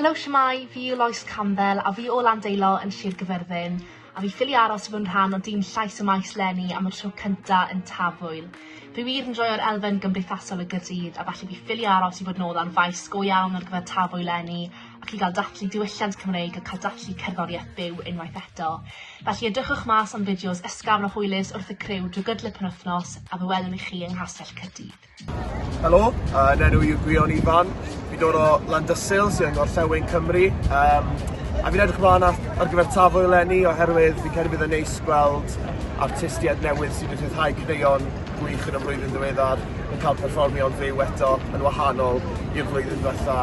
Helo, siamai, fi yw Lois Campbell a fi o Landeilo yn Sir Gyfyrddin a fi ffili aros i fod yn rhan o dîm Llais y Maes Lenny am y tro cynta yn Tafwyl. Fi wir yn joio'r elfen gymdeithasol y gydydd a felly fi ffili aros i fod nôl ar faes go iawn ar gyfer Tafwyl Lenny Chi gael dathlu diwylliant Cymreig a cael dathlu cerddoriaeth byw unwaith eto. Felly edrychwch mas am fideos ysgafn a hwylus wrth y criw drwy gydol y penwythnos a fe welwn ni chi yng Nghastell Caerdydd. Helo, uh, yn enw yw Gwion Ifan. Fi dod o Landysul sy'n yng Ngorllewin Cymru. Um, a fi'n edrych ymlaen ar, ar gyfer tafwyl lenni oherwydd fi'n credu bydd yn neis gweld artistiaid newydd sydd wedi rhyddhau creion gwych yn y flwyddyn ddiweddar yn cael perfformio'n fyw eto yn wahanol i'r flwyddyn diwetha.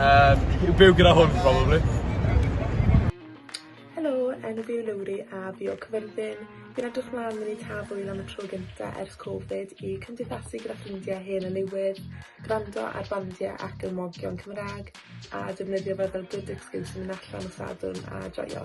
Yym, yw byw gyda hwn, probably. Helo, enw fi yw Lowri a fi o Cyfyrddin. Fi'n edrych mlaen mynd i Taf Wyl am y tro gynta ers Covid i cymdeithasu gyda ffrindiau hen a newydd, gwrando ar bandiau ac ymwogion Cymraeg a defnyddio fe fel good excuse i mynd allan o Sadwrn a joio.